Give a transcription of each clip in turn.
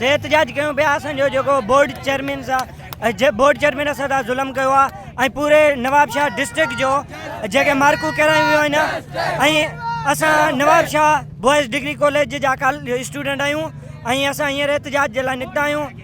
سي احتجاج ڪيون پيا اسان جو جيڪو بورڊ چيئرمين سا جي بورڊ چيئرمين اسان سان ظلم ڪيو آ ۽ پوري نواب شاهه ڊسٽرڪٽ جو جيڪي مارڪون ڪيرايون ويون آهن ۽ اسان Nawab Shah boys degree college جا ڪال اسٽوڊنٽ آهيون ۽ اسان هينئر احتجاج جي لاء نڪتا آهيون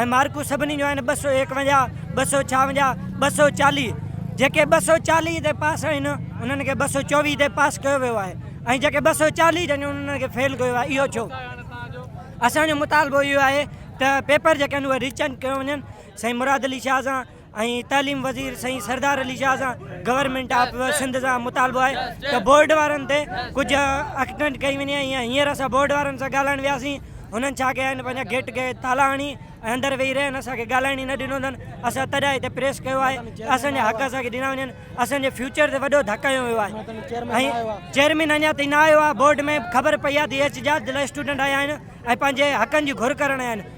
۽ مارڪون سڀني جون آهن ٻه سؤ ايڪونجاهه، ٻه سؤ ڇاونجاهه، ٻه سؤ چاليهه. جيڪي ٻه سؤ چاليهه تي پاس آهن انهن کي ٻه سؤ چوويهه تي پاس ڪيو ويو آهي ۽ جيڪي ٻه سؤ چاليهه جن آهن انهن کي فيل ڪيو آهي اهو ڇو؟ اسان جو مطالبو اهو آهي ته پيپر جيڪي آهن اهي ري چيڪ ڪيو وڃن سائين مراد علي شاهه سان ۽ تعليم وزير سائين سردار علي شاهه سان گورنمينٽ آف سنڌ سان مطالبو آهي ته بورڊ وارن تي ڪجهه اڪٽنٽ ڪئي وڃي ۽ هينئر اسان بورڊ وارن سان ڳالهائڻ وياسين هنن ڇا ڪيا آهن پنهنجا گيٽ کي تالا هڻي ۽ اندر ويهي رهيا آهن اسان کي ڳالهائڻ ئي نه ڏنو اٿن اسان تڏهن هتي پريس ڪيو آهي ته اسان جا حق اسان کي ڏنا وڃن اسان جي فيوچر تي وڏو ڌڪ هنيو ويو آهي ۽ چيئرمين اڃا تائين نه آيو آهي بورڊ ۾ خبر پئي آهي ته اي ايچ جاج لاء اسٽوڊنٽ آيا آهن ۽ پنهنجي حقن جي گهر ڪرڻ آيا آهن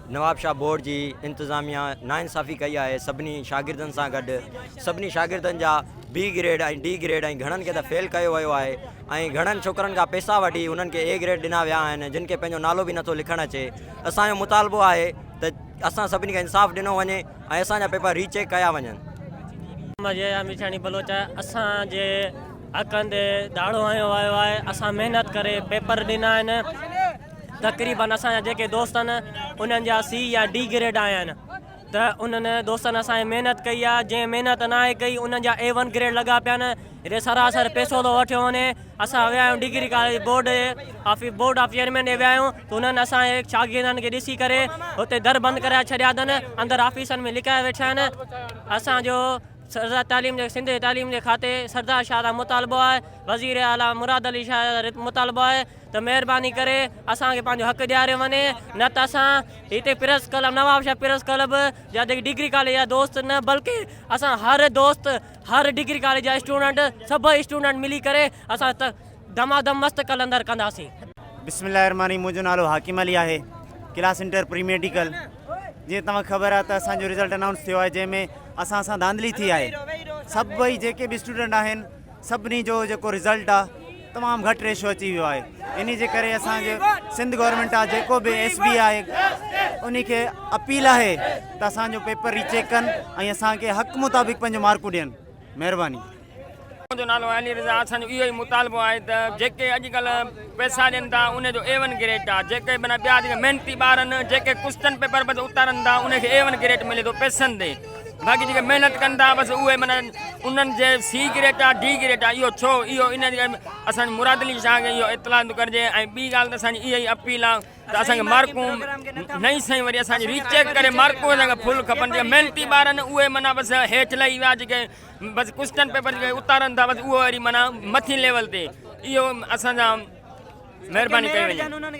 نوابشاهه بورڊ جي انتظاميا ناانصافي ڪئي آهي سڀني شاگردن سان گڏ سڀني شاگردن جا بي گريڊ ۽ ڊي گريڊ ۽ گهڻن کي ته فيل ڪيو ويو آهي ۽ گهڻن ڇوڪرن کان پيسا وٺي انهن کي اي گريڊ ڏنا ويا آهن جن کي پنهنجو نالو به نٿو لکڻ اچي اسان جو مطالبو آهي ته اسان سڀني کي انصاف ڏنو وڃي ۽ اسان جا پيپر ري چيڪ ڪيا وڃن. محمد يحيٰ ميرشاڻي بلوچ اسان جي حقن تي ڌاڙو هنيو ويو آهي اسان محنت ڪري پيپر ڏنا آهن تقريبن اسان جا جيڪي دوست آهن انهن جا سي يا ڊي گريڊ آيا آهن ته انهن دوستن اسان جي محنت ڪئي آهي جنهن محنت ناهي ڪئي انهن جا اي ون گريڊ لڳا پيا آهن جڏهن سراسر پيسو ٿو وٺيو وڃي اسان ويا آهيون degree college board of board of chairman ڏي ويا آهيون ته انهن اسان جي شاگردن کي ڏسي ڪري اتي در بند ڪرائي ڇڏيا اٿن اندر آفيسن ۾ لڪايا ويٺا آهن اسان جو سردار تعليم جي سنڌ جي تعليم جي کاتي سردار شاهه لاء مطالبو آهي وزير اعليٰ مراد علي شاهه مطالبو آهي ته مهرباني ڪري اسان کي پنهنجو حق ڏياريو وڃي نه ته اسان هتي press club Nawabshah press club جا جيڪي ڊگري ڪاليج جا دوست نه بلڪه اسان هر دوست هر ڊگري ڪاليج جا اسٽوڊنٽ سڀئي اسٽوڊنٽ ملي ڪري اسان دما دم مست قلندر ڪنداسين. بسم الله الرحمن الرحيم منهنجو نالو حاڪم علي آهي ڪلاس انٽر پري ميڊيڪل جيئن توهان کي خبر آهي ته اسان جو رزلٽ انائونس ٿيو آهي جنهن ۾ اسان سان ڌانڌلي ٿي آهي سڀئي جيڪي به اسٽوڊنٽ آهن سڀني جو جيڪو رزلٽ آ تمام گهٽ ريشو اچي ويو آهي انهي جي ڪري اسان جي سنڌ گورنمينٽ آ جيڪو به ايس بي آهي انهي کي اپيل آهي ته اسان جو پيپر ري چيڪ ڪن ۽ اسان کي حق مطابق پنهنجو مارڪون ڏين مهرباني. منهنجو نالو علي رضا آ اسان جو اهو ئي مطالبو آهي ته جيڪي اڄ ڪلهه پئسا ڏين ٿا انهي جو اي ون گريٽ آ جيڪي معنيٰ ٻيا جيڪي محنتي ٻار آهن جيڪي ڪوسٽن پيپر به اتارن ٿا انهي کي اي ون گريٽ ملي ٿو پئسن تي باقي جيڪي محنت ڪن ٿا بس اهي معنيٰ انهن جي سي گريڊ آهي ڊي گريڊ آهي اهو ڇو اهو ان جي اسان مراد علي شاهه کي اهو اطلاع ٿو ڪرجي ۽ ٻي ڳالهه ته اسانجي اها ئي اپيل آهي ته اسانکي مارڪون نئي سائين وري اسانجي ري چيڪ ڪري مارڪون اسانکي فل کپن جيڪي محنتي ٻار آهن اهي معنيٰ بس هيٺ لهي ويا جيڪي بس ڪسٽن پيپر جيڪي اتارن ٿا بس اهو وري معنيٰ مٿين ليول تي اهو اسان سان مهرباني ڪئي وڃي